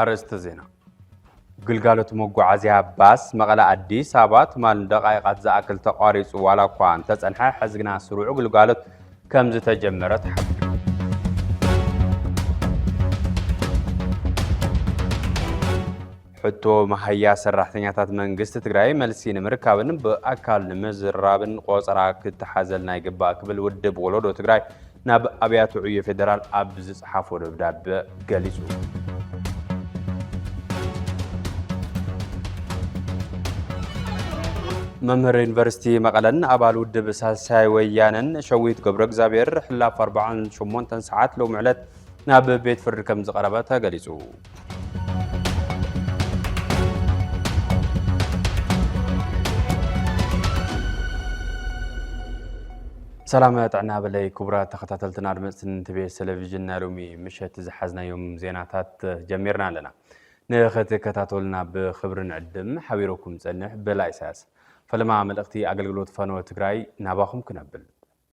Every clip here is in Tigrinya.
ኣርእስተ ዜና ግልጋሎት መጓዓዝያ ባስ መቐለ ኣዲስ ኣበባ ትማል ንደቓይቓት ዝኣክል ተቋሪፁ ዋላ እኳ እንተፀንሐ ሕዚ ግና ስሩዑ ግልጋሎት ከም ዝተጀመረ ተሓቢሩ ሕቶ መሃያ ሰራሕተኛታት መንግስቲ ትግራይ መልሲ ንምርካብን ብኣካል ንምዝራብን ቆፀራ ክተሓዘልና ይግባእ ክብል ውድብ ወለዶ ትግራይ ናብ ኣብያተ ዕዮ ፌዴራል ኣብ ዝፀሓፎ ደብዳበ ገሊፁ። መምህር ዩኒቨርሲቲ መቐለን ኣባል ውድብ ሳልሳይ ወያነን ሸዊት ገብረ እግዚኣብሔር ሕላፍ 48 ሰዓት ሎሚ ዕለት ናብ ቤት ፍርዲ ከም ዝቐረበ ተገሊጹ። ሰላም ጥዕና በለይ ክቡራት ተኸታተልትን ኣድመፅትን ትቤስ ቴሌቪዥን ናይ ሎሚ ምሸት ዝሓዝናዮም ዜናታት ጀሚርና ኣለና ንኸትከታተሉና ብክብርን ዕድም ሓቢረኩም ፀንሕ በላ ኢሳያስ ፈለማ መልእኽቲ ኣገልግሎት ፈነወ ትግራይ ናባኹም ክነብል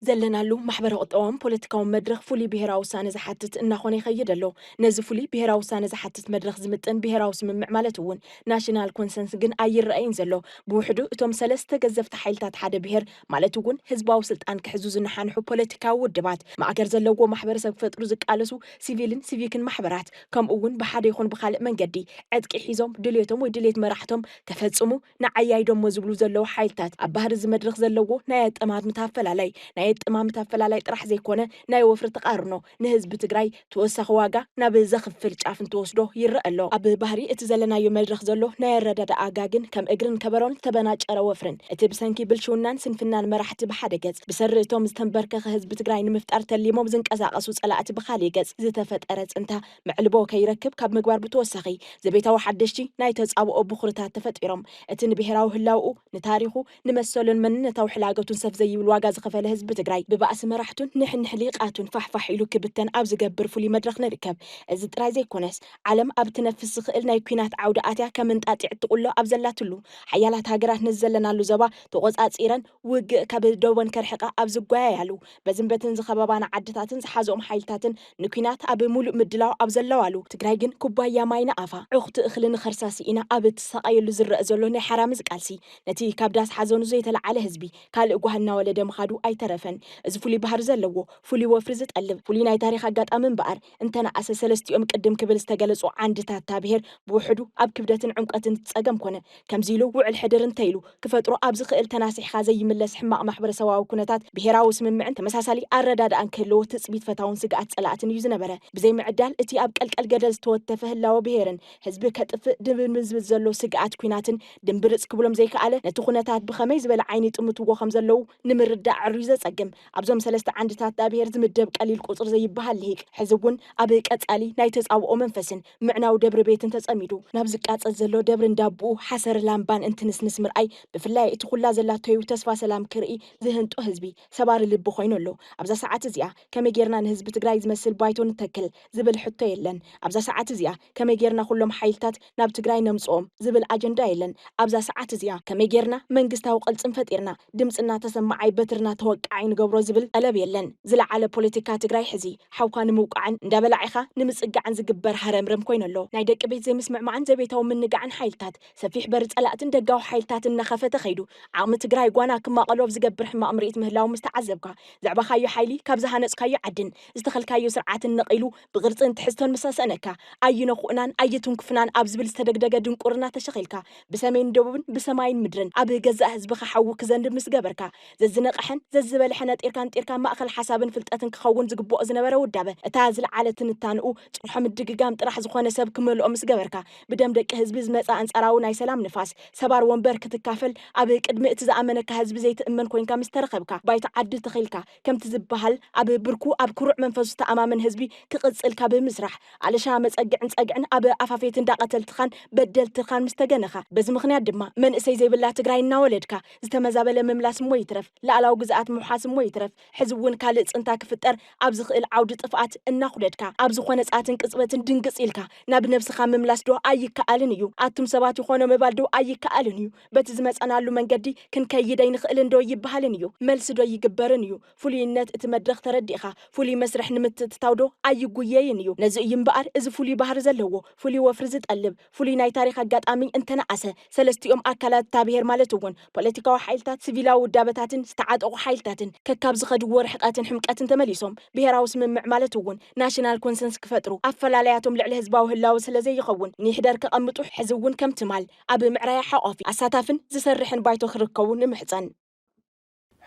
ዘለናሉ ማሕበረ-ቁጠባውን ፖለቲካውን መድረኽ ፍሉይ ብሄራዊ ውሳነ ዝሓትት እናኾነ ይኸይድ ኣሎ። ነዚ ፍሉይ ብሄራዊ ውሳነ ዝሓትት መድረኽ ዝምጥን ብሄራዊ ስምምዕ ማለት እውን ናሽናል ኮንሰንስ ግን ኣይረኣይን ዘሎ። ብውሕዱ እቶም ሰለስተ ገዘፍቲ ሓይልታት ሓደ ብሄር ማለት እውን ህዝባዊ ስልጣን ክሕዙ ዝነሓንሑ ፖለቲካዊ ውድባት፣ ማእገር ዘለዎ ማሕበረሰብ ክፈጥሩ ዝቃለሱ ሲቪልን ሲቪክን ማሕበራት ከምኡ እውን ብሓደ ይኹን ብኻልእ መንገዲ ዕጥቂ ሒዞም ድልየቶም ወይ ድልየት መራሕቶም ከፈፅሙ ንዓይ ኣይዶሞ ዝብሉ ዘለዉ ሓይልታት ኣብ ባህሪ እዚ መድረኽ ዘለዎ ናይ ኣጠማምታ ኣፈላላይ ናይ ኣጠማምታ ኣፈላላይ ጥራሕ ዘይኮነ ናይ ወፍሪ ተቓርኖ ንህዝቢ ትግራይ ተወሳኺ ዋጋ ናብ ዘኽፍል ጫፍ እንትወስዶ ይረኣ ኣሎ። ኣብ ባህሪ እቲ ዘለናዮ መድረኽ ዘሎ ናይ ኣረዳድኣ ጋግን ከም እግርን ከበሮን ዝተበናጨረ ወፍርን እቲ ብሰንኪ ብልሽውናን ስንፍናን መራሕቲ ብሓደ ገፅ ብሰሪ እቶም ዝተምበርከኸ ህዝቢ ትግራይ ንምፍጣር ተሊሞም ዝንቀሳቐሱ ፀላእቲ ብኻሊእ ገፅ ዝተፈጠረ ፅንታ መዕልቦ ከይረክብ ካብ ምግባር ብተወሳኺ ዘቤታዊ ሓደሽቲ ናይ ተጻብኦ ብኹርታት ተፈጢሮም። እቲ ንብሄራዊ ህላውኡ፣ ንታሪኹ፣ ንመሰሉን መንነታዊ ሕላገቱን ሰፍ ዘይብል ዋጋ ዝኸፈለ ህዝቢ ትግራይ ብባእሲ መራሕቱን ንሕንሕ ሊቃቱን ፋሕፋሕ ኢሉ ክብተን ኣብ ዝገብር ፍሉይ መድረኽ ንርከብ። እዚ ጥራይ ዘይኮነስ ዓለም ኣብ እትነፍስ ዝኽእል ናይ ኲናት ዓውዲ ኣትያ ከም እንጣጢዕ እትቑሎ ኣብ ዘላትሉ፣ ሓያላት ሃገራት ነዚ ዘለናሉ ዘባ ተቖጻጺረን ውግእ ካብ ዶቦን ከርሕቃ ኣብ ዝጓያያሉ፣ በዝን በትን ዝኸበባና ዓድታትን ዝሓዘኦም ሓይልታትን ንኲናት ኣብ ሙሉእ ምድላው ኣብ ዘለዋሉ፣ ትግራይ ግን ኩባያ ማይ ንኣፋ፣ ዕኹቲ እኽሊ ንኸርሳ ስኢና ኣብ እትሳቐየሉ ዝረእ ዘሎ ናይ ሓራምዝ ቃልሲ፣ ነቲ ካብ ዳስ ሓዘኑ ዘይተለዓለ ህዝቢ ካልእ ጓህ እናወለደ ምኻዱ ኣይተረፈን። እዚ ፍሉይ ባህሪ ዘለዎ፣ ፍሉይ ወፍሪ ዝጠልብ፣ ፍሉይ ናይ ታሪኽ ኣጋጣሚ እምበኣር፣ እንተነኣሰ ሰለስቲኦም ቅድም ክብል ዝተገለጹ ዓንድታት እታ ብሄር ብውሕዱ ኣብ ክብደትን ዕምቆትን እቲ ጸገም ኮነ ከምዚ ኢሉ ውዕል ሕድር እንተ ኢሉ ክፈጥሮ ኣብ ዝኽእል ተናሲሕኻ ዘይምለስ ሕማቕ ማሕበረሰባዊ ኩነታት ብሄራዊ ስምምዕን ተመሳሳሊ ኣረዳድኣን ክህልዎ ትጽቢት ፈታውን ስግኣት ጸላእትን እዩ ዝነበረ። ብዘይ ምዕዳል እቲ ኣብ ቀልቀል ገደል ዝተወተፈ ህላወ ብሄርን ህዝቢ ከጥፍእ ድብንብንዝብል ዘሎ ስግኣት ኩናትን ድምብርጽ ክብሎም ዘይከኣለ ነቲ ኩነታት ብኸመይ ዝበለ ዓይኒ ይጥምትዎ ከም ዘለዉ ንምርዳእ ኣዕርዩ ዘጸግም ኣብዞም ሰለስተ ዓንድታት ዳብሄር ዝምደብ ቀሊል ቁጽሪ ዘይበሃል ልሂቅ፣ ሕዚ እውን ኣብ ቀጻሊ ናይ ተጻብኦ መንፈስን ምዕናው ደብሪ ቤትን ተጸሚዱ፣ ናብ ዝቃጸል ዘሎ ደብሪ እንዳቦኡ ሓሰር ላምባን እንትንስንስ ምርኣይ፣ ብፍላይ እቲ ኩላ ዘላቶዩ ተስፋ ሰላም ክርኢ ዝህንጦ ህዝቢ፣ ሰባሪ ልቢ ኮይኑ ኣሎ። ኣብዛ ሰዓት እዚኣ ከመይ ጌርና ንህዝቢ ትግራይ ዝመስል ባይቶ ንተክል? ዝብል ሕቶ የለን። ኣብዛ ሰዓት እዚኣ ከመይ ጌርና ኩሎም ሓይልታት። ናብ ትግራይ ነምፅኦም ዝብል ኣጀንዳ የለን ኣብዛ ሰዓት እዚኣ። ከመይ ገይርና መንግስታዊ ቅልፅም ፈጢርና ድምፅና ተሰማዓይ በትርና ተወቃዓይ ንገብሮ ዝብል ጠለብ የለን። ዝለዓለ ፖለቲካ ትግራይ ሕዚ ሓውካ ንምውቃዕን እንዳበላዒኻ ንምፅጋዕን ዝግበር ሃረምረም ኮይኑ ኣሎ። ናይ ደቂ ቤት ዘይምስምዕማዕን ዘቤታዊ ምንጋዕን ሓይልታት ሰፊሕ በሪ ፀላእትን ደጋዊ ሓይልታትን እናኸፈተ ከይዱ ዓቕሚ ትግራይ ጓና ክማቐሉ ኣብ ዝገብር ሕማቕ ምርኢት ምህላዉ ምስተዓዘብካ ዘዕበኻዮ ሓይሊ ካብ ዝሃነፅካዮ ዓድን ዝተኸልካዮ ስርዓትን ነቒሉ ብቕርጽን ትሕዝቶን ምስ ኣሰእነካ፣ ኣይነኹእናን ኣይትንኩፍናን ኣብ ዝብል ዝተደግደገ ድንቁርና ተሸኺልካ፣ ብሰሜን ደቡብን ብሰማይን ምድርን ኣብ ገዛእ ህዝብኻ ሓዊ ክዘንብ ምስ ገበርካ፣ ዘዝነቐሐን ዘዝበልሐ ነጢርካ ንጢርካ ማእከል ሓሳብን ፍልጠትን ክኸውን ዝግብኦ ዝነበረ ውዳበ፣ እታ ዝልዓለ ትንታንኡ ጭርሖ ምድግጋም ጥራሕ ዝኾነ ሰብ ክመልኦ ምስ ገበርካ፣ ብደም ደቂ ህዝቢ ዝመጸ ኣንጻራዊ ናይ ሰላም ንፋስ፣ ሰባር ወንበር ክትካፈል፣ ኣብ ቅድሚ እቲ ዝኣመነካ ህዝቢ ዘይትእመን ኮይንካ ምስ ተረኸብካ፣ ባይታ ዓዲ ተኺልካ፣ ከምቲ ዝበሃል ኣብ ብርኩ ኣብ ኩሩዕ መንፈሱ ዝተኣማመን ህዝቢ ክቕጽል ካብ ምስራሕ ኣለሻ መጸግዕን ጸግዕን ኣብ ኣፋፌት እንዳ ቀተልትኻን በደልትኻን ምስ ተገነኻ በዚ ምኽንያት ድማ መንእሰይ ዘይብላ ትግራይ እናወለድካ ዝተመዛበለ ምምላስ እሞ ይትረፍ ልኣላዊ ግዝኣት ምውሓስ እሞ ይትረፍ ሕዚ እውን ካልእ ጽንታ ክፍጠር ኣብ ዝኽእል ዓውዲ ጥፍኣት እናኹደድካ ኣብ ዝኾነ ጸኣትን ቅጽበትን ድንግጽ ኢልካ ናብ ነብስኻ ምምላስ ዶ ኣይከኣልን እዩ ኣቱም ሰባት ይኾኖ ምባል ዶ ኣይከኣልን እዩ በቲ ዝመጸናሉ መንገዲ ክንከይድ ኣይንኽእልን ዶ ይበሃልን እዩ መልሲ ዶ ይግበርን እዩ ፍሉይነት እቲ መድረኽ ተረዲእኻ ፍሉይ መስርሕ ንምትእትታው ዶ ኣይጉየይን እዩ ነዚ እዩ እምበኣር እዚ ፍሉይ ባህሪ ዘለዎ ፍሉይ ወፍሪ ዝጠልብ ፍሉይ ናይ ታሪኽ ኣጋጣሚ እንተነኣሰ ሰለስቲኦም ኣካላት እታ ብሄር ማለት እውን ፖለቲካዊ ሓይልታት ስቪላዊ ውዳበታትን ዝተዓጠቑ ሓይልታትን ከካብ ዝኸድዎ ርሕቐትን ሕምቀትን ተመሊሶም ብሄራዊ ስምምዕ ማለት እውን ናሽናል ኮንሰንስ ክፈጥሩ ኣፈላላያቶም ልዕሊ ህዝባዊ ህላወ ስለዘይኸውን ንይሕደር ከቐምጡ ሕዚ እውን ከም ትማል ኣብ ምዕራይ ሓቋፊ፣ ኣሳታፍን ዝሰርሕን ባይቶ ክርከቡ ንምሕጸን።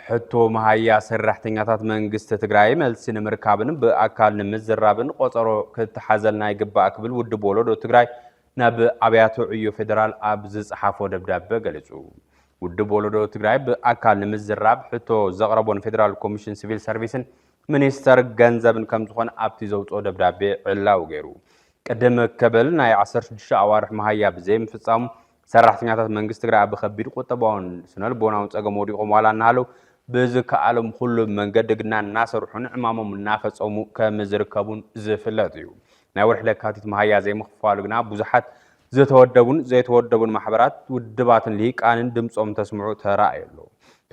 ሕቶ መሃያ ሰራሕተኛታት መንግስቲ ትግራይ መልሲ ንምርካብን ብኣካል ንምዝራብን ቆፀሮ ክተሓዘልና ይግባእ ክብል ውድብ ወለዶ ትግራይ ናብ ኣብያተ ዕዮ ፌዴራል ኣብ ዝፀሓፎ ደብዳበ ገሊፁ። ውድብ ወለዶ ትግራይ ብኣካል ንምዝራብ ሕቶ ዘቕረቦ ንፌዴራል ኮሚሽን ሲቪል ሰርቪስን ሚኒስተር ገንዘብን ከምዝኾነ ኣብቲ ዘውፅኦ ደብዳቤ ዕላዊ ገይሩ። ቅድም ከበል ናይ ዓሰርተ ሽዱሽተ ኣዋርሕ መሃያ ብዘይምፍፃሙ ሰራሕተኛታት መንግስቲ ትግራይ ኣብ ከቢድ ቁጠባውን ስነልቦናውን ፀገም ወዲቖም ዋላ እናሃለው ብዝከኣሎም ኩሉ መንገዲ ግና እናሰርሑን ዕማሞም እናፈፀሙ ከምዝርከቡን ዝፍለጥ እዩ። ናይ ወርሒ ለካቲት መሃያ ዘይምኽፋሉ ግና ብዙሓት ዝተወደቡን ዘይተወደቡን ማሕበራት፣ ውድባትን ልሂቃንን ድምፆም እንተስምዑ ተራእዩ ኣሎ።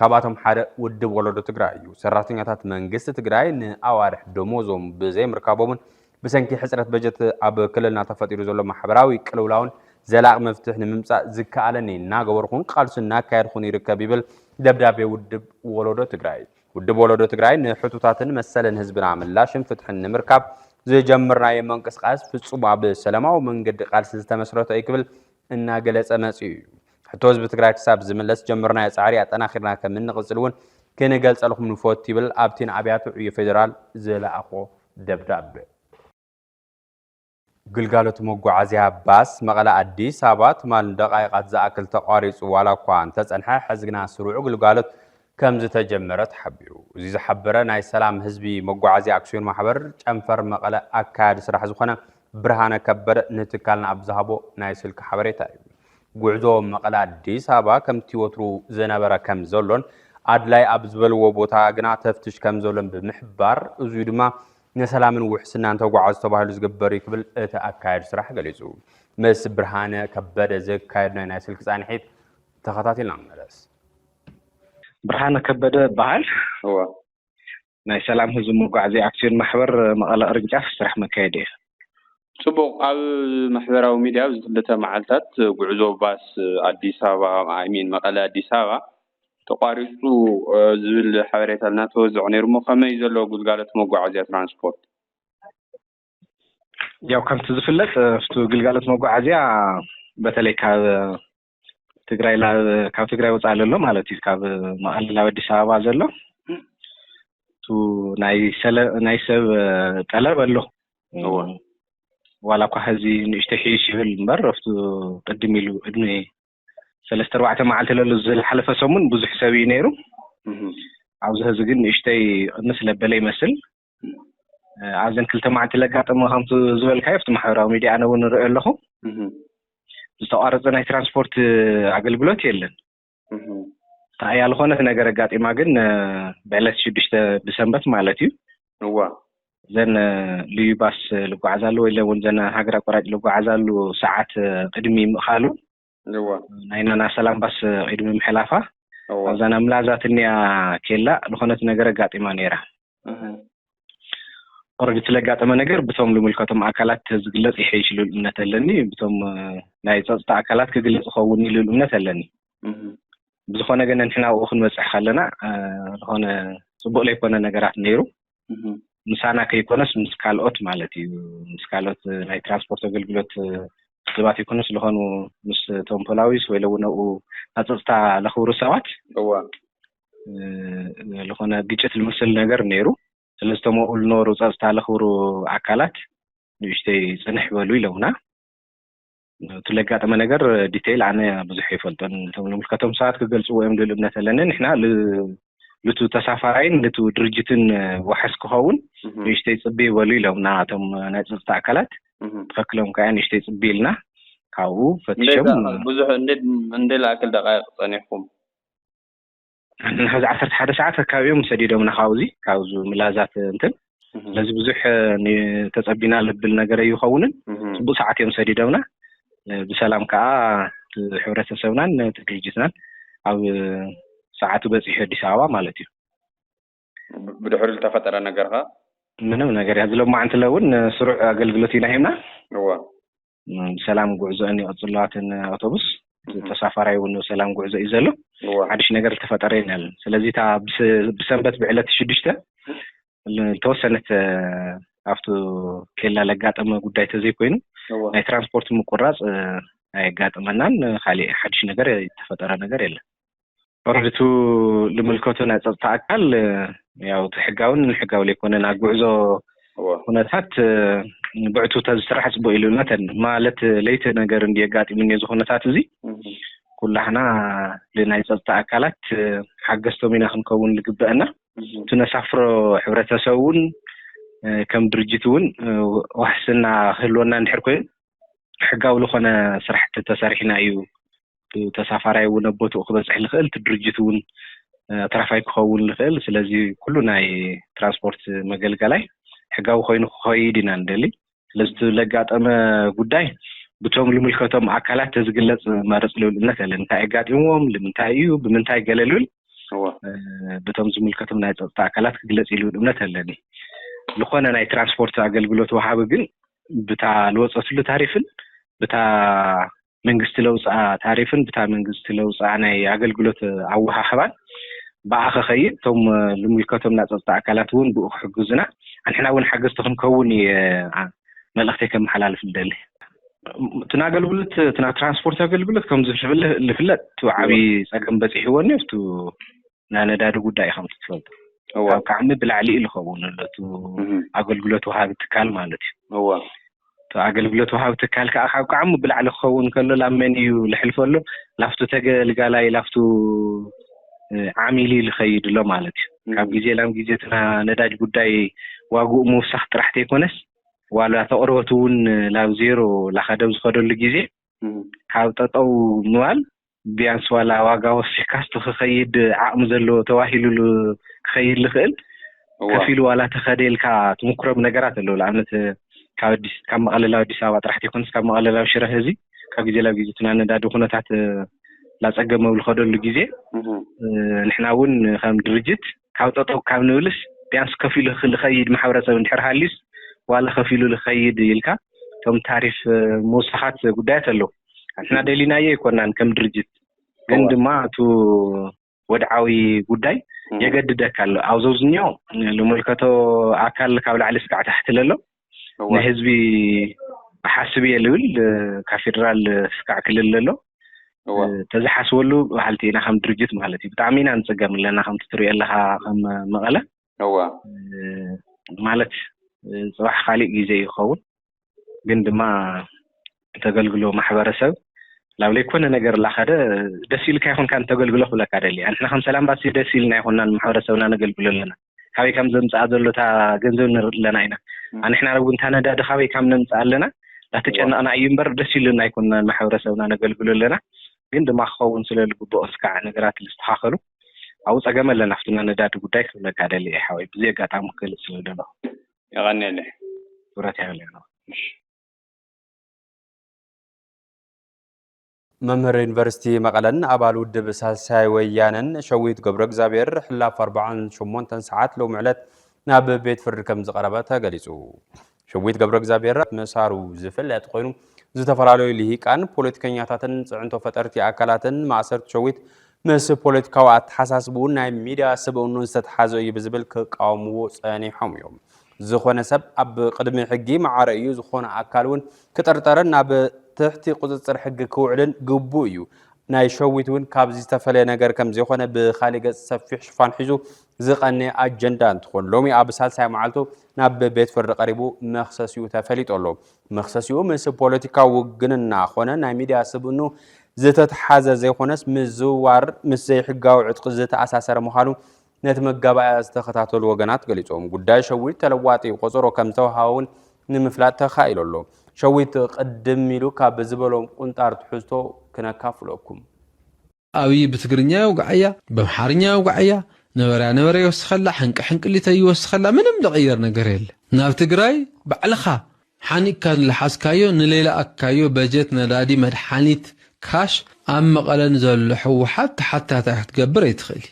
ካብኣቶም ሓደ ውድብ ወለዶ ትግራይ እዩ። ሰራሕተኛታት መንግስቲ ትግራይ ንኣዋርሕ ደሞዞም ብዘይምርካቦምን ብሰንኪ ሕፅረት በጀት ኣብ ክልልና ተፈጢሩ ዘሎ ማሕበራዊ ቅልውላውን ዘላቒ መፍትሒ ንምምፃእ ዝከኣለኒ እናገበርኩን ቃልሱ እናካየድኩን ይርከብ ይብል ደብዳቤ ውድብ ወለዶ ትግራይ። ውድብ ወለዶ ትግራይ ንሕቶታትን መሰልን ህዝብና ምላሽን ፍትሕን ንምርካብ ዝጀመርናዮ ምንቅስቓስ ፍፁም ኣብ ሰላማዊ መንገዲ ቃልሲ ዝተመስረተ እዩ ክብል እናገለፀ መፂኡ እዩ። ሕቶ ህዝቢ ትግራይ ክሳብ ዝምለስ ጀመርናዮ ፃዕሪ ኣጠናኺርና ከም እንቕፅል እውን ክንገልፀልኩም ንፈቱ ይብል ኣብቲ ንኣብያተ ዕዮ ፌዴራል ዝለኣኾ ደብዳቤ። ግልጋሎት መጓዓዝያ ባስ መቐለ ኣዲስ ኣበባ ትማል ንደቓይቓት ዝኣክል ተቋሪፁ ዋላ እኳ እንተፀንሐ ሕዚ ግና ስሩዕ ግልጋሎት ከምዝተጀመረ ተሓቢሩ። እዚ ዝሓበረ ናይ ሰላም ህዝቢ መጓዓዝያ ኣክስዮን ማሕበር ጨንፈር መቐለ ኣካያዲ ስራሕ ዝኾነ ብርሃነ ከበደ ንትካልና ኣብ ዝሃቦ ናይ ስልኪ ሓበሬታ እዩ። ጉዕዞ መቐለ ኣዲስ ኣበባ ከምቲ ወትሩ ዝነበረ ከምዘሎን ኣድላይ ኣብ ዝበልዎ ቦታ ግና ተፍትሽ ከምዘሎን ብምሕባር እዙይ ድማ ንሰላምን ውሕስናን ተጓዓዙ ተባሂሉ ዝግበር እዩ ክብል እቲ ኣካያዲ ስራሕ ገሊፁ። ምስ ብርሃነ ከበደ ዘካየድናዮ ናይ ስልኪ ፃንሒት ተኸታቲልና ንመለስ። ብርሃነ ከበደ እበሃል። እወ ናይ ሰላም ህዝቢ መጓዕዝያ ኣክስዮን ማሕበር መቐለ ቅርንጫፍ ስራሕ መካየዲ እየ። ጽቡቕ፣ ኣብ ማሕበራዊ ሚድያ ኣብዚ ክልተ መዓልታት ጉዕዞ ባስ ኣዲስ ኣበባ ኣይ ሚን መቐለ ኣዲስ ኣበባ ተቋሪጹ ዝብል ሓበሬታ እናተወዘዐ ነይሩ እሞ ከመይ እዩ ዘሎ ግልጋሎት መጓዓዝያ ትራንስፖርት? ያው ከምቲ ዝፍለጥ እቲ ግልጋሎት መጓዓዝያ በተለይ ካብ ትግራይ ካብ ትግራይ ወፃኢ ዘሎ ማለት እዩ ካብ መቐለ ናብ ኣዲስ ኣበባ ዘሎ እቱ ናይ ሰብ ጠለብ ኣሎ ዋላ እኳ ሕዚ ንእሽተይ ሕይሽ ይብል እምበር ኣብቱ ቅድም ኢሉ ዕድሚ ሰለስተ ኣርባዕተ መዓልቲ ለሉ ዝሓለፈ ሰሙን ብዙሕ ሰብ እዩ ነይሩ ኣብዚ ሕዚ ግን ንእሽተይ ቅንስ ለበለ ይመስል ኣብዘን ክልተ መዓልቲ ለጋጠመ ከምቲ ዝበልካዮ ኣብቲ ማሕበራዊ ሚዲያ ኣነ እውን ንሪኦ ኣለኹ ዝተቋረፀ ናይ ትራንስፖርት ኣገልግሎት የለን እታ እያ ዝኾነት ነገር ኣጋጢማ ግን ብዕለት ሽዱሽተ ብሰንበት ማለት እዩ እዋ እዘን ልዩ ባስ ልጓዓዛሉ ወይ እውን ዘን ሃገር ኣቋራጭ ልጓዓዛሉ ሰዓት ቅድሚ ምእኻሉ እወ ናይና ናሰል ኣምባስ ዒድ ብምሕላፋ እወ ኣብዛ ናብ ምላዛ ትኒኣ ኬላ ልኾነት ነገር ኣጋጢማ ነይራ እህ ኦረዲ እቲ ለጋጠመ ነገር ብቶም ልምልከቶም ኣካላት ተዝግለጽ ይሐይሽ ልብል እምነት ኣለኒ ብቶም ናይ ጸጽታ ኣካላት ክግለጽ ይኸውን እዩ ልብል እምነት ኣለኒ እህ ብዝኾነ ግን ንሕና ኣብኡ ክንበጽሕ ከለና ልኾነ ጽቡቅ ለይኮነ ነገራት ነይሩ ምሳና ከይኮነስ ምስ ካልኦት ማለት እዩ ምስ ካልኦት ናይ ትራንስፖርት ኣገልግሎት ሰባት ይኮነስ ዝኾኑ ምስ ቶም ፖላዊስ ወይ ለውን ኣብኡ ኣፀፅታ ለኽብሩ ሰባት ዝኾነ ግጭት ልምስል ነገር ነይሩ ስለዝተመኡ ልነበሩ ፀፅታ ለኽብሩ ኣካላት ንእሽተይ ፅንሕ በሉ ኢለውና እቲ ለጋጠመ ነገር ዲቴይል ኣነ ብዙሕ ይፈልጦን እቶም ንምልከቶም ሰባት ክገልጽዎ እዮም ልል እምነት ኣለኒ ንሕና ልቱ ተሳፋራይን ልቱ ድርጅትን ዋሕስ ክኸውን ንእሽተይ ጽቢ ይበሉ ኢሎምና እቶም ናይ ፀጥታ ኣካላት ትኸክሎም ከያ ንእሽተይ ጽቢ ኢልና ካብኡ ፈትሾም ብዙሕ እንደ ላእክል ደቃይቅ ጸኒሕኩም ንሓዚ ዓሰርተ ሓደ ሰዓት ኣካባቢኦም ሰዲዶምና ካብዚ ካብዚ ምላዛት እንትን ስለዚ ብዙሕ ተፀቢና ልብል ነገር ኣይኸውንን ፅቡቅ ሰዓት እዮም ሰዲዶምና ብሰላም ከዓ ሕብረተሰብናን ነቲ ድርጅትናን ኣብ ሰዓቱ በፂሑ ኣዲስ ኣበባ ማለት እዩ ብድሕሪ ዝተፈጠረ ነገር ከዓ ምንም ነገር እያ ዝሎማዕንቲ ለውን ስሩዕ ኣገልግሎት ኢና ሂብና ሰላም ጉዕዞአን ይቕጽሉ ኣትን ኣውቶቡስ ተሳፋራይ እውን ሰላም ጉዕዞ እዩ ዘሎ ሓድሽ ነገር ዝተፈጠረ የለን ስለዚህ እታ ብሰንበት ብዕለት ሽዱሽተ ተወሰነት ኣብቲ ኬላ ለጋጠመ ጉዳይ ተዘይኮይኑ ናይ ትራንስፖርት ምቁራፅ ኣየጋጥመናን ካሊእ ሓድሽ ነገር ዝተፈጠረ ነገር የለን ኦረዲ እቱ ልምልከቶ ናይ ፀጥታ ኣካል ያው እቲ ሕጋውን ሕጋዊ ዘይኮነን ኣብ ጉዕዞ ኩነታት ብዕቱ ተዝስራሕ ፅቡቅ ኢሉ ነተን ማለት ለይቲ ነገር እንዲ የጋጢምኒ እዚ ኩነታት እዚ ኩላሕና ልናይ ፀጥታ ኣካላት ሓገዝቶም ኢና ክንከውን ዝግበአና እቲ ነሳፍሮ ሕብረተሰብ እውን ከም ድርጅት እውን ዋሕስና ክህልወና እንድሕር ኮይኑ ሕጋዊ ልኾነ ስራሕቲ ተሰሪሕና እዩ ተሳፋራይ እውን ኣብ ቦትኡ ክበፅሕ ልኽእል እቲ ድርጅት እውን ኣትራፋይ ክኸውን ልኽእል ስለዚ ኩሉ ናይ ትራንስፖርት መገልገላይ ሕጋዊ ኮይኑ ክኸይድ ኢና ንደሊ ስለዚ ለጋጠመ ጉዳይ ብቶም ልምልከቶም ኣካላት ተዝግለፅ መርፅ ልብል እምነት ኣለን እንታይ ኣጋጢምዎም ልምንታይ እዩ ብምንታይ ገለ ልብል ብቶም ዝምልከቶም ናይ ፀጥታ ኣካላት ክግለፅ ልብል እምነት ኣለኒ ዝኾነ ናይ ትራንስፖርት ኣገልግሎት ወሃቢ ግን ብታ ልወጸትሉ ታሪፍን ብታ መንግስቲ ለውጽኣ ታሪፍን ብታ መንግስቲ ለውጽኣ ናይ ኣገልግሎት ኣወሃህባን ብኣ ከኸይድ እቶም ልምልከቶም ናይ ጸጥታ ኣካላት እውን ብኡ ክሕግዙና ኣንሕና እውን ሓገዝቲ ክንከውን መልእኽተይ ከመሓላልፍ ልደሊ እቲ ኣገልግሎት እቲ ትራንስፖርት ኣገልግሎት ከም ዝፍለጥ እቲ ዓብዪ ጸገም በጺሕዎኒ ኣብቲ ናይ ነዳዲ ጉዳይ ኢኻ ትፈልጦ ካብ ቃዕሚ ብላዕሊ እዩ ዝኸውን ዘሎ እቲ ኣገልግሎት ወሃቢ ትካል ማለት እዩ እወ እቲ ኣገልግሎት ወሃቢ ትካል ከዓ ካብ ቃዕሚ ብላዕሊ ክኸውን ከሎ ላብ መን እዩ ልሕልፎ ኣሎ ላፍቱ ተገልጋላይ ላፍቱ ዓሚል እዩ ልኸይድ ኣሎ ማለት እዩ ካብ ግዜ ናብ ግዜ እቲ ነዳጅ ጉዳይ ዋግኡ ምውሳኽ ጥራሕ ተይኮነስ ዋላ ተቕርበቱ እውን ላብ ዜሮ ላኸደብ ዝኸደሉ ግዜ ካብ ጠጠው ምባል ቢያንስ ዋላ ዋጋ ወሲኽካስ ንኽኸይድ ዓቕሚ ዘለዎ ተባሂሉሉ ክኸይድ ልኽእል እዋ ከፊሉ ዋላ ተኸደ ኢልካ ትምኩሮም ነገራት ኣለዉ ንኣብነት ካብ ኣዲስ ካብ መቐለ ናብ ኣዲስ ኣበባ ጥራሕ ተይኮነስ ካብ መቐለ ናብ ሽረ ህዝቢ ካብ ግዜ ናብ ግዜ እቲ ናይ ነዳዲ ኩነታት ላፀገመ ኣብ ዝኸደሉ ግዜ እህ ንሕና እውን ከም ድርጅት ካብ ጠጠው ካብ ንብልስ ቢያንስ ከፊሉ ልኸይድ ማሕበረሰብ እንድሕር ሃልዩስ ዋላ ከፊሉ ልኸይድ ኢልካ እቶም ታሪፍ ምውሳኻት ጉዳያት ኣለው ኣንሕና ደሊናዮ ኣይኮናን ከም ድርጅት ግን እወ ድማ እቱ ወድዓዊ ጉዳይ እህ የገድደካ ኣሎ ኣብዞ ዝኛው ልምልከቶ ኣካል ካብ ላዕሊ ስካዕ ታሕቲ ለሎ ንህዝቢ እሓስብ እየ ልብል ካብ ፌደራል ስካዕ ክልል ለሎ ተዝሓስበሉ በሃልቲ ኢና ከም ድርጅት ማለት እዩ ብጣዕሚ ኢና ንፅገም ኣለና ከምቲ ትሪኦ ኣለካ ከም መቐለ እወ ማለት ፅባሕ ካሊእ ግዜ ይኸውን ግን ድማ እተገልግሎ ማሕበረሰብ ናብ ለይኮነ ነገር ላኸደ ደስ ኢልካ ይኹንካ እንተገልግሎ ክብለካ ደሊ ኣንሕና ከም ሰላም ባሲ ደስ ኢልና ይኹንና ንማሕበረሰብና ነገልግሎ ኣለና ካበይ ከም ዘምፅኣ ዘሎ እታ ገንዘብ ንርኢ ኣለና ኢና ኣንሕና እውን እታ ነዳዲ ካበይ ካብ ነምፅኣ ኣለና ዳተጨነቕና እዩ እምበር ደስ ኢሉና ይኩንና ንማሕበረሰብና ነገልግሎ ኣለና ግን ድማ ክኸውን ስለ ዝግብኦ ስካዕ ነገራት ዝስተኻኸሉ ኣብኡ ፀገም ኣለና ፍትና ነዳዲ ጉዳይ ክብለካ ደሊ እየ ሓወይ ብዘይ ኣጋጣሚ ክገልፅ ስለ ደለኹ የቐኒየለ ክብረት ይሃለና መምህር ዩኒቨርሲቲ መቐለን ኣባል ውድብ ሳልሳይ ወያነን ሸዊት ገብረ እግዚኣብሔር ሕላፍ 48 ሰዓት ሎሚ ዕለት ናብ ቤት ፍርዲ ከም ዝቐረበ ተገሊጹ። ሸዊት ገብረ እግዚኣብሔር መሳሩ ዝፍለጥ ኮይኑ ዝተፈላለዩ ልሂቃን ፖለቲከኛታትን ፅዕንቶ ፈጠርቲ ኣካላትን ማእሰርቲ ሸዊት ምስ ፖለቲካዊ ኣተሓሳስብኡን ናይ ሚድያ ስብእኑን ዝተተሓዘ እዩ ብዝብል ክቃወምዎ ፀኒሖም እዮም። ዝኾነ ሰብ ኣብ ቕድሚ ሕጊ መዓረ እዩ፣ ዝኾነ ኣካል እውን ክጥርጠርን ናብ ትሕቲ ቁፅፅር ሕጊ ክውዕልን ግቡእ እዩ። ናይ ሸዊት እውን ካብዚ ዝተፈለየ ነገር ከምዘይኾነ ብኻሊእ ገፅ ሰፊሕ ሽፋን ሒዙ ዝቐነየ ኣጀንዳ እንትኾን ሎሚ ኣብ ሳልሳይ መዓልቱ ናብ ቤት ፍርዲ ቀሪቡ መኽሰሲኡ ተፈሊጡ ኣሎ። መኽሰሲኡ ምስ ፖለቲካዊ ውግንና ኾነ ናይ ሚዲያ ስብእኑ ዝተትሓዘ ዘይኾነስ ምዝውዋር ምስ ዘይሕጋዊ ዕጥቂ ዝተኣሳሰረ ምዃኑ ነቲ መጋባእያ ዝተኸታተሉ ወገናት ገሊጾም። ጉዳይ ሸዊት ተለዋጢ ቆጸሮ ከም ዝተውሃበ እውን ንምፍላጥ ተኻኢሉ ኣሎ። ሸዊት ቅድም ኢሉ ካብ ዝበሎም ቁንጣር ትሕዝቶ ክነካፍለኩም። ኣብይ ብትግርኛ የውግዓያ በምሓርኛ የውግዓያ ነበረያ ነበረ ይወስኸላ ሕንቂ ሕንቅሊተይ ይወስኸላ ምንም ልቕየር ነገር የለ ናብ ትግራይ ባዕልኻ ሓኒቅካ ንልሓዝካዮ ንሌላኣካዮ በጀት ነዳዲ መድሓኒት ካሽ ኣብ መቐለ ንዘሎ ሕወሓት ተሓታታይ ክትገብር ኣይትኽእልይ።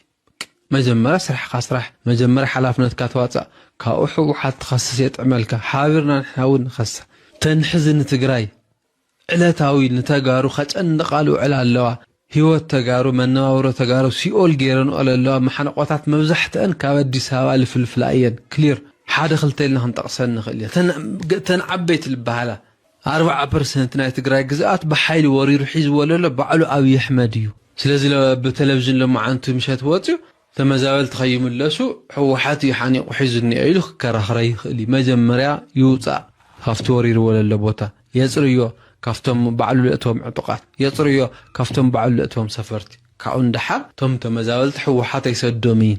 መጀመርያ ስራሕካ ስራሕ መጀመርያ ሓላፍነትካ ተዋፃእ ካብኡ ሕወሓት ትኸስስ የጥዕመልካ ሓቢርና ንሕና እውን ንኸስስ ተን ሕዚ ንትግራይ ዕለታዊ ንተጋሩ ከጨንቓ ልውዕላ ኣለዋ ሂወት ተጋሩ መነባብሮ ተጋሩ ሲኦል ገይረንኦ ለለዋ ማሓንቖታት መብዛሕትኣን ካብ ኣዲስ ኣበባ ልፍልፍላ እየን ክሊር ሓደ ክልተ ኢልና ክንጠቕሰን ንኽእል ኢና ተን ዓበይቲ ልበሃላ ኣርብዓ ፐርሰንት ናይ ትግራይ ግዝኣት ብሓይሊ ወሪሩ ሒዝዎ ለሎ ባዕሉ ኣብይ ኣሕመድ እዩ ስለዚ ብ ተለቭዥን ሎማዓንቲ ምሸት ወፅዩ ተመዛበልቲ ከይምለሱ ህወሓት እዩ ሓኒቁ ሒዙ እኒኦ ኢሉ ክከራኽረ ይኽእል እዩ መጀመርያ ይውፃእ ካፍቲ ወሪርዎ ለሎ ቦታ የፅርዮ ካፍቶም ባዕሉ ለእተዎም ዕጡቃት የፅርዮ ካፍቶም ባዕሉ ለእተዎም ሰፈርቲ ካብኡ ንደሓር እቶም ተመዛበልቲ ህወሓት ኣይሰዶም እዪ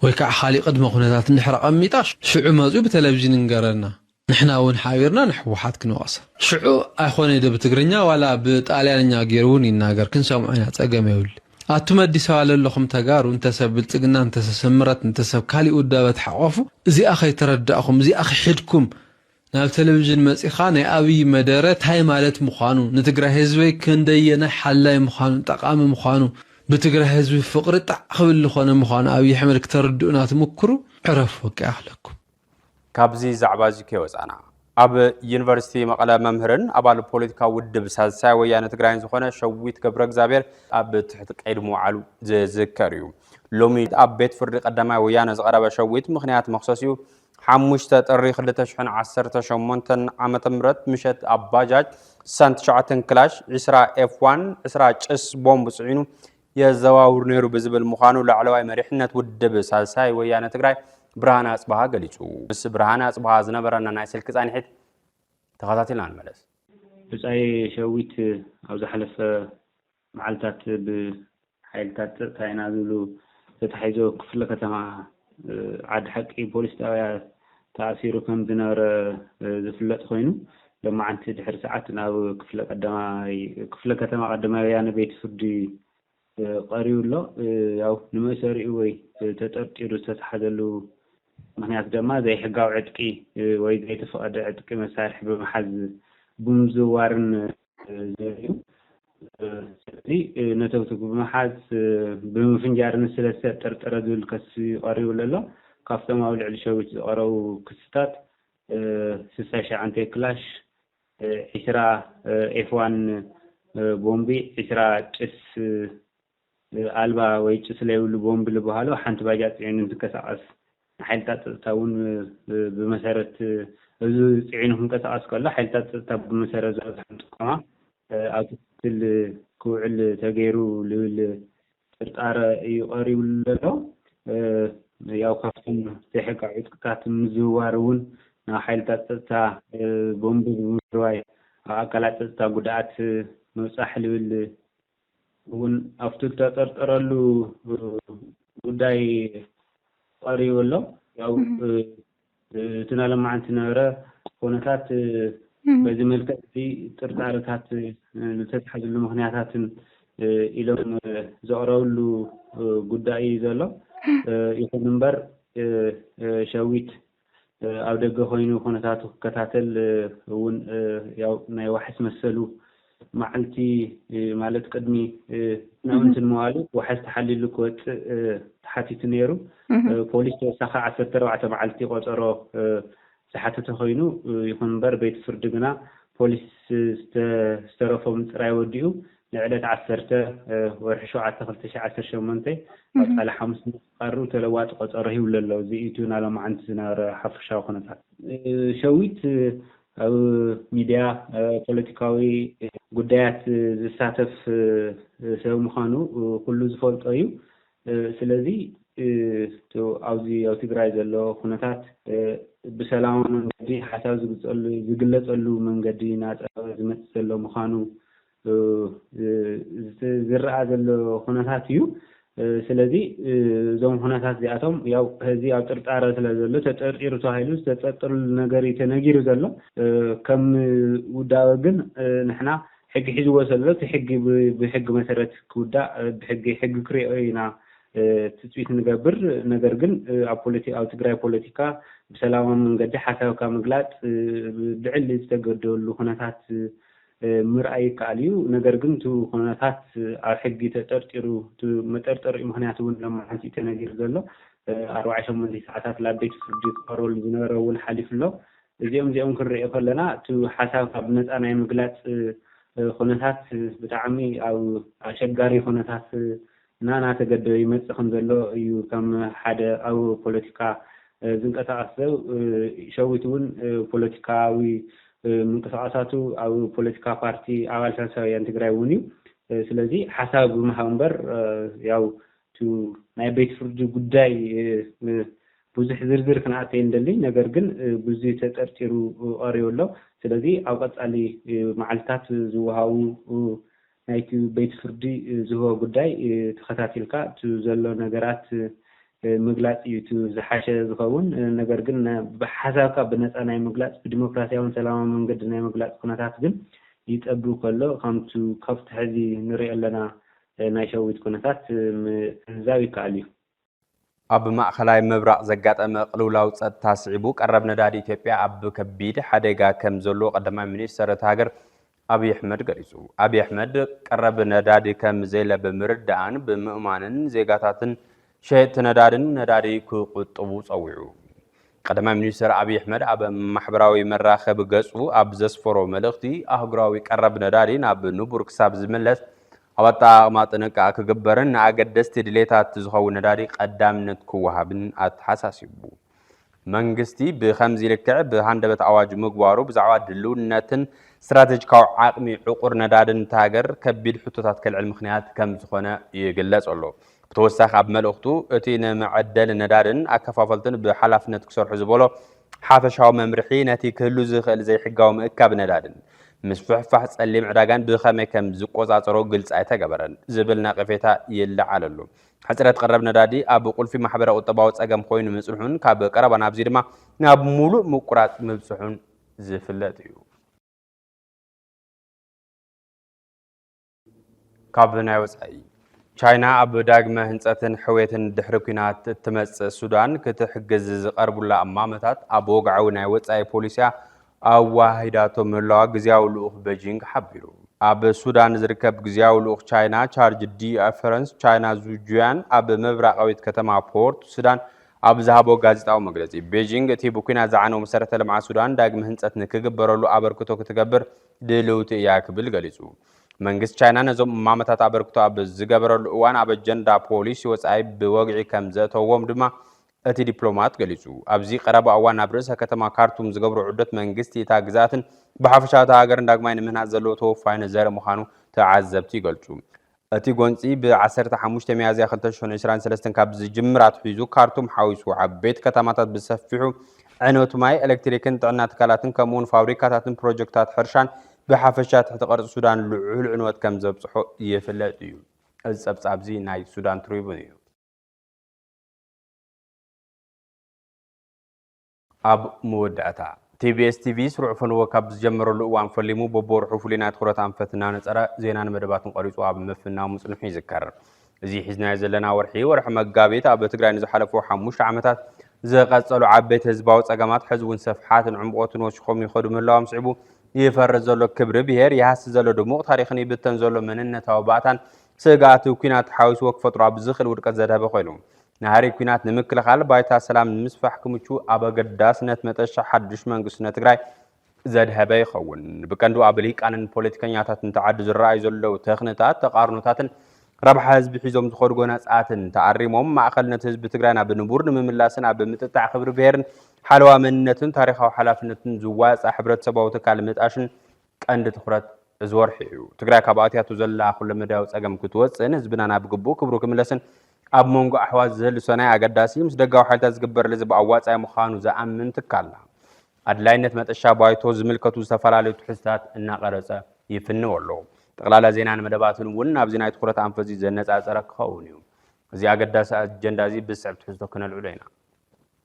ወይ ከዓ ካሊእ ቅድመ ኩነታት እንድሕር ኣቀሚጣ ሽዑ መፅዩ ብተለቭዥን ይንገረና ንሕና ውን ሓቢርና ንሕወሓት ክንወቕሳ። ሽዑ ኣይኾነይ ዶ ብትግርኛ ዋላ ብጣልያንኛ ጌሩ ውን ይናገር ክንሰምዖ ኢና ጸገም የብልን። ኣቱም ኣዲስ ኣበባ ለለኹም ተጋሩ እንተ ሰብ ብልጽግና እንተ ሰብ ስምረት እንተ ሰብ ካሊእ ውዳበ ተሓቆፉ እዚኣ ከይተረዳእኹም እዚኣ ክሒድኩም ናብ ተለቪዥን መጺኻ ናይ ኣብይ መደረ ታይ ማለት ምዃኑ ንትግራይ ህዝበይ ክንደየናይ ሓላይ ምዃኑን ጠቃሚ ምዃኑ ብትግራይ ህዝቢ ፍቅሪ ጣዕ ክብል ልኾነ ምዃኑ ኣብይ ኣሕመድ ክተርድኡና ትምኩሩ ዕረፉ በቃ ይኣኽለኩም። ካብዚ ዛዕባ እዚ ከይወፃና ኣብ ዩኒቨርሲቲ መቐለ መምህርን ኣባል ፖለቲካዊ ውድብ ሳልሳይ ወያነ ትግራይን ዝኾነ ሸዊት ገብረ እግዚኣብሔር ኣብ ትሕቲ ቀይዲ ምውዓሉ ዝዝከር እዩ። ሎሚ ኣብ ቤት ፍርዲ ቀዳማይ ወያነ ዝቐረበ ሸዊት ምኽንያት መኽሰሲኡ ሓሙሽተ ጥሪ ክልተ ሽሕን ዓሰርተ ሸሞንተን ዓመተ ምህረት ምሸት ኣብ ባጃጅ ስሳን ትሽዓተን ክላሽ፣ ዕስራ ኤፍ ዋን፣ ዕስራ ጭስ ቦምብ ፅዒኑ የዘዋውር ነይሩ ብዝብል ምዃኑ ላዕለዋይ መሪሕነት ውድብ ሳልሳይ ወያነ ትግራይ ብርሃነ ኣጽብሃ ገሊጹ። ምስ ብርሃነ ኣጽብሃ ዝነበረና ናይ ስልኪ ጻኒሒት ተኸታቲልና ንመለስ። ብጻይ ሸዊት ኣብ ዝሓለፈ መዓልታት ብሓይልታት ጸጥታ ኢና ዝብሉ ተታሒዞ ክፍለ ከተማ ዓዲ ሓቂ ፖሊስ ጣብያ ተኣሲሩ ከም ዝነበረ ዝፍለጥ ኾይኑ ሎማዕንቲ ድሕሪ ሰዓት ናብ ክፍለ ከተማ ቀዳማይ ወያነ ቤት ፍርዲ ቀሪቡ ኣሎ። ያው ንመእሰሪኡ ወይ ተጠርጢሩ ዝተታሓዘሉ ምክንያት ደማ ዘይሕጋዊ ዕጥቂ ወይ ዘይተፈቐደ ዕጥቂ መሳርሒ ብምሓዝ ብምዝውዋርን ዘርእዩ ስለዚ ነተብቲ ብምሓዝ ብምፍንጃር ንስለ ዝተጠርጠረ ዝብል ከሲ ቀሪብሉ ኣሎ። ካብቶም ኣብ ልዕሊ ሸዊት ዝቐረቡ ክስታት ስሳይ ሸዓንተ ክላሽ፣ ዕስራ ኤፍ ዋን ቦምቢ፣ ዕስራ ጭስ ኣልባ ወይ ጭስ ለይብሉ ቦምብ ልበሃሎ ሓንቲ ባጃጅ ፅዒኑ እንትንቀሳቐስ ንሓይልታት ፀፅታ እውን ብመሰረት እዚ ፅዒኑ ክንቀሳቐስ ከሎ ሓይልታት ፀፅታ ብመሰረት ዝበፅሖም ጥቆማ ኣብ ክትትል ክውዕል ተገይሩ ልብል ጥርጣረ እዩ ቀሪብሉ ዘሎ። ያው ካብቶም ዘይሕጋዊ ዕጥቅታት ምዝውዋር እውን ናብ ሓይልታት ፀፅታ ቦምብ ብምፍርዋይ ኣብ ኣካላት ፀፅታ ጉድኣት ምብፃሕ ልብል እውን ኣብቲ ዝተጠርጠረሉ ጉዳይ ቐሪቡ ኣሎ። ያው እቲ ናይ ሎማዓንቲ ዝነበረ ኩነታት በዚ መልክዕ እዚ ጥርጣረታት ዝተትሓዝሉ ምክንያታትን ኢሎም ዘቕረብሉ ጉዳይ እዩ ዘሎ። ይኹን እምበር ሸዊት ኣብ ደገ ኮይኑ ኩነታቱ ክከታተል እውን ያው ናይ ዋሕስ መሰሉ መዓልቲ ማለት ቅድሚ ናውንቲ ንምባሉ ዋሕስ ተሓሊሉ ክወፅእ ተሓቲቱ ነይሩ ፖሊስ ተወሳኺ ዓሰርተ ኣርባዕተ መዓልቲ ቆፀሮ ዝሓተተ ኮይኑ ይኹን እምበር ቤት ፍርዲ ግና ፖሊስ ዝተረፎ ምፅራይ ወዲኡ ንዕለት ዓሰርተ ወርሒ ሸውዓተ ክልተ ሽሕ ዓሰርተ ሸሞንተ ኣብ ፃለ ሓሙስ ቐርብ ተለዋጢ ቐፀሮ ሂብሉ ኣሎ እዚ ኢዩ እቲ ናይ ሎማዓንቲ ዝነበረ ሓፈሻዊ ኩነታት። ሸዊት ኣብ ሚድያ ፖለቲካዊ ጉዳያት ዝሳተፍ ሰብ ምዃኑ ኩሉ ዝፈልጦ እዩ ስለዚ እቲ ኣብዚ ኣብ ትግራይ ዘሎ ኩነታት ብሰላማዊ መንገዲ ሓሳብ ዝግፀሉ ዝግለፀሉ መንገዲ ናፀበበ ዝመፅእ ዘሎ ምዃኑ ዝረኣ ዘሎ ኩነታት እዩ። ስለዚ እዞም ኩነታት እዚኣቶም ያው ሕዚ ኣብ ጥርጣረ ስለ ዘሎ ተጠርጢሩ ተባሂሉ ዝተጠርጠረሉ ነገር እዩ ተነጊሩ ዘሎ። ከም ውዳበ ግን ንሕና ሕጊ ሒዝዎ ዘሎ እቲ ሕጊ ብሕጊ መሰረት ክውዳእ ብሕጊ ሕጊ ክሪኦ ኢና ትፅቢት ንገብር። ነገር ግን ኣብ ፖለቲ ኣብ ትግራይ ፖለቲካ ብሰላማዊ መንገዲ ሓሳብካ ምግላፅ ልዕሊ ዝተገደሉ ኩነታት ምርኣይ ይከኣል እዩ። ነገር ግን እቲ ኩነታት ኣብ ሕጊ ተጠርጢሩ እቲ መጠርጠሪኡ ምክንያት እውን ሎማዕንቲ እዩ ተነጊሩ ዘሎ። ኣርባዕተ ሸሞንተ ሰዓታት ላብ ቤት ፍርዲ ክቐርበሉ ዝነበረ እውን ሓሊፉ ኣሎ። እዚኦም እዚኦም ክንርእዮ ከለና እቲ ሓሳብካ ብነፃ ናይ ምግላፅ ኩነታት ብጣዕሚ ኣብ ኣሸጋሪ ኩነታት እናተገደበ ይመጽእ ከም ዘሎ እዩ ከም ሓደ ኣብ ፖለቲካ ዝንቀሳቐስ ሰብ ሸዊት እውን ፖለቲካዊ ምንቅስቓሳቱ ኣብ ፖለቲካ ፓርቲ ኣባል ሳልሳይ ወያነ ትግራይ እውን እዩ ስለዚ ሓሳብ ብምሃብ እምበር ያው እቲ ናይ ቤት ፍርዲ ጉዳይ ብዙሕ ዝርዝር ክንኣቱ ኣይንደልይ ነገር ግን ብዙይ ተጠርጢሩ ቐሪቡ ኣሎ ስለዚ ኣብ ቐፃሊ መዓልትታት ዝወሃቡ ናይቲ ቤት ፍርዲ ዝህቦ ጉዳይ ተኸታቲልካ እቲ ዘሎ ነገራት ምግላጽ እዩ እቲ ዝሓሸ ዝኸውን። ነገር ግን ሓሳብካ ብነጻ ናይ ምግላጽ ብዲሞክራሲያውን ሰላማውን መንገዲ ናይ ምግላጽ ኩነታት ግን ይጸብብ ከሎ ከምቱ ካብቱ ሕዚ ንሪኦ ኣለና ናይ ሸዊት ኩነታት ምዕዛብ ይከኣል እዩ። ኣብ ማእኸላይ ምብራቕ ዘጋጠመ ቅልውላው ፀጥታ ስዒቡ ቀረብ ነዳዲ ኢትዮጵያ ኣብ ከቢድ ሓደጋ ከም ዘሎ ቀዳማይ ሚኒስትር እታ ሃገር ኣብዪ ኣሕመድ ገሊፁ። ኣብዪ ኣሕመድ ቀረብ ነዳዲ ከም ዘየለ ብምርዳእን ብምእማንን ዜጋታትን ሸየጥቲ ነዳድን ነዳዲ ክቑጥቡ ፀዊዑ። ቀዳማይ ሚኒስትር ኣብዪ ኣሕመድ ኣብ ማሕበራዊ መራኸቢ ገጹ ኣብ ዘስፈሮ መልእኽቲ ኣህጉራዊ ቀረብ ነዳዲ ናብ ንቡር ክሳብ ዝምለስ ኣብ ኣጠቓቕማ ጥንቃ ክግበርን ንኣገደስቲ ድሌታት ዝኸውን ነዳዲ ቀዳምነት ክወሃብን ኣተሓሳሲቡ። መንግስቲ ብከምዚ ልክዕ ብሃንደበት ኣዋጅ ምግባሩ ብዛዕባ ድልውነትን ስትራቴጂካዊ ዓቕሚ ዕቑር ነዳድን እታ ሃገር ከቢድ ሕቶታት ከልዕል ምክንያት ከም ዝኾነ ይግለጽ ኣሎ። ብተወሳኺ ኣብ መልእኽቱ፣ እቲ ንመዐደሊ ነዳድን ኣከፋፈልቱን ብሓላፍነት ክሰርሑ ዝበሎ ሓፈሻዊ መምርሒ፣ ነቲ ክህሉ ዝኽእል ዘይሕጋዊ ምእካብ ነዳድን ምስፍሕፋሕ ጸሊም ዕዳጋን ብኸመይ ከም ዝቆጻጸሮ ግልጺ ኣይተገበረን ዝብል ነቐፌታ ይለዓለሉ። ሕጽረት ቀረብ ነዳዲ ኣብ ቁልፊ ማሕበረ-ቁጠባዊ ጸገም ኮይኑ ምጽንሑን ካብ ቀረባ ናብዚ ድማ ናብ ምሉእ ምቁራጽ ምብጽሑን ዝፍለጥ እዩ። ካብ ናይ ወፃኢ ቻይና ኣብ ዳግመ ህንፀትን ሕውየትን ድሕሪ ኩናት እትመፅእ ሱዳን ክትሕግዝ ዝቐርቡላ እማመታት ኣብ ወግዓዊ ናይ ወፃኢ ፖሊሲያ ኣዋሂዳቶ ምህላዋ ግዜያዊ ልኡኽ ቤጂንግ ሓቢሩ። ኣብ ሱዳን ዝርከብ ግዜያዊ ልኡኽ ቻይና ቻርጅ ዲ ፈረንስ ቻይና ዙጁያን ኣብ ምብራቃዊት ከተማ ፖርት ሱዳን ኣብ ዝሃቦ ጋዜጣዊ መግለፂ ቤጂንግ እቲ ብኲናት ዝዓነው መሰረተ ልምዓት ሱዳን ዳግመ ህንፀት ንክግበረሉ ኣበርክቶ ክትገብር ድልውቲ እያ ክብል ገሊጹ። መንግስቲ ቻይና ነዞም እማመታት ኣበርክቶ ኣብ ዝገበረሉ እዋን ኣብ ኣጀንዳ ፖሊሲ ወጻኢ ብወግዒ ከም ዘእተዎም ድማ እቲ ዲፕሎማት ገሊጹ። ኣብዚ ቀረባ እዋን ናብ ርእሰ ከተማ ካርቱም ዝገብሮ ዑደት መንግስቲ እታ ግዝኣትን ብሓፈሻ እታ ሃገርን ዳግማይ ንምህናጽ ዘለዎ ተወፋይነት ዘርኢ ምዃኑ ተዓዘብቲ ይገልጹ። እቲ ጎንፂ ብ ዓሰርተ ሓሙሽተ ሚያዝያ ክልተ ሽሕን ዕስራን ሰለስተን ካብ ዝጅምር ኣትሒዙ ካርቱም ሓዊሱ ዓበይቲ ከተማታት ብሰፊሑ ዕንወት ማይ፣ ኤሌክትሪክን ጥዕና ትካላትን ከምኡ እውን ፋብሪካታትን ፕሮጀክትታት ሕርሻን ብሓፈሻ ትሕቲ ቅርፂ ሱዳን ልዑል ዕንወት ከም ዘብፅሖ ይፍለጥ እዩ። እዚ ፀብፃብ እዚ ናይ ሱዳን ትሪቡን እዩ። ኣብ መወዳእታ፣ ቲቢኤስ ቲቪ ስሩዕ ፈነወ ካብ ዝጀመረሉ እዋን ፈሊሙ በብወርሑ ፍሉይ ናይ ትኹረት ኣንፈት እናነፀረ ዜናን መደባትን ቐሪፁ ኣብ ምፍናው ምፅንሑ ይዝከር። እዚ ሒዝናዮ ዘለና ወርሒ፣ ወርሒ መጋቢት፣ ኣብ ትግራይ ንዝሓለፉ ሓሙሽተ ዓመታት ዝቐፀሉ ዓበይቲ ህዝባዊ ፀገማት ሕዚ እውን ሰፍሓትን ዕምቖትን ወሲኾም ይኸዱ ምህላዎም ስዒቡ ይፈርስ ዘሎ ክብሪ ብሄር፣ ይሃሲ ዘሎ ድሙቕ ታሪኽን ይብተን ዘሎ መንነታዊ ባእታን ስግኣት ኲናት ሓዊስዎ ክፈጥሮ ኣብ ዝኽእል ውድቀት ዘድሀበ ኮይኑ ናህሪ ኩናት ንምክልኻል ባይታ ሰላም ንምስፋሕ ክምቹ ኣብ ኣገዳስነት መጠሻ ሓዱሽ መንግስቲ ንትግራይ ዘድሀበ ይኸውን። ብቀንዱ ኣብ ሊቃንን ፖለቲከኛታትን ተዓዲ ዝረኣዩ ዘለዉ ተኽንታት፣ ተቓርኖታትን ረብሓ ህዝቢ ሒዞም ዝኸዱ ጎነጻትን ተኣሪሞም ማእኸልነት ህዝቢ ትግራይ ናብ ንቡር ንምምላስን ኣብ ምጥጣዕ ክብሪ ብሄርን ሓለዋ መንነትን ታሪኻዊ ሓላፍነትን ዝዋፃእ ሕብረተሰባዊ ትካል ምጣሽን ቀንዲ ትኹረት እዚ ወርሒ እዩ። ትግራይ ካብ ኣትያቶ ዘላ ኩለመዳያዊ ጸገም ክትወጽእን ህዝብና ናብ ግቡእ ክብሩ ክምለስን ኣብ መንጎ ኣሕዋት ዝህሉ ሰናይ ኣገዳሲ ምስ ደጋዊ ሓይልታት ዝግበር ልዝብ ኣዋጻኢ ምዃኑ ዝኣምን ትካልና ኣድላይነት መጠሻ ባይቶ ዝምልከቱ ዝተፈላለዩ ትሕዝታት እናቐረጸ ይፍንው ኣሎ። ጠቕላላ ዜናን መደባትን እውን ናብዚ ናይ ትኹረት ኣንፈዚ ዘነጻጸረ ክኸውን እዩ። እዚ ኣገዳሲ ኣጀንዳ እዚ ብዝስዕብ ትሕዝቶ ክነልዕሎ ኢና።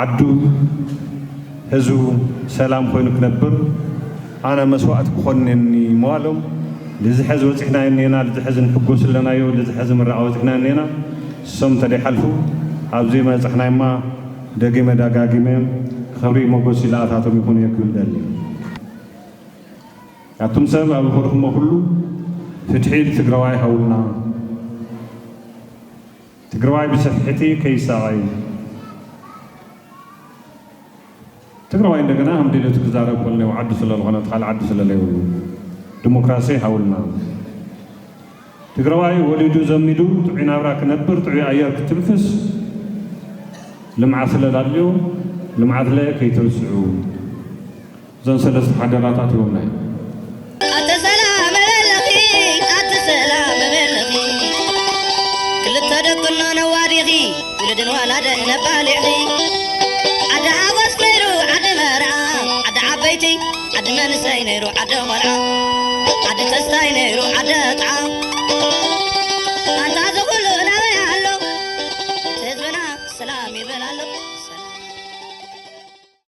ዓዱ ህዝቡ ሰላም ኮይኑ ክነብር ኣነ መስዋእቲ ክኾን እኔኒ ምባሎም ልዚ ሐዚ በፂሕናዮ እኔና ልዚ ሐዚ ንሕጎስ ኣለናዮ ልዚ ሐዚ ምረቓ በፂሕናዮ እኔና እሶም ተደይሓልፉ ኣብዚ መበፃሕናዮማ ደጊመ ዳጋጊመ ኽብሪ ሞጎስ ይላኣታቶም ይኹን እየ ክብል ደሊ ኣቱም ሰብ ኣብ ኸድኹሞ ኩሉ ፍትሒ ልትግራዋይ ሃቡና። ትግራዋይ ብስሕሕቲ ከይሳቐይ። ትግራዋይ እንደገና ሃም ድልዮቱ ክዛረብ ኮልኔው ዓዱ ስለልኾነት ኻልእ ዓዱ ስለለይብሉ ድሞክራሴ ሃውልና። ትግራዋይ ወሊዱ ዘሚዱ ጥዑይ ናብራ ክነብር ጥዑይ ኣየር ክትንፍስ ልምዓ ስለላልዮ ልምዓትለ ከይትርስዑ። እዘን ሰለስተ ሓደራታት ይወናይ። ኣተ ሰላም በለኺ ኣተ ሰላም በለኺ ክልተ ደቅኖ ነዋዲኺ ውልድን ወላደን ነባሊዒ ዓዲ ሓጎስ ነይሩ ዓዲ መርዓ ዓዲ ዓበይቲ ዓዲ መንእሰይ ነይሩ ዓዲ ቆልዓ ዓዲ ተስታይ ነይሩ ዓዲ ኣጥዓ ኣንታ እዚ ኩሉ ናበይ ኣሎ እቲ ህዝብና ሰላም ይብል ኣሎ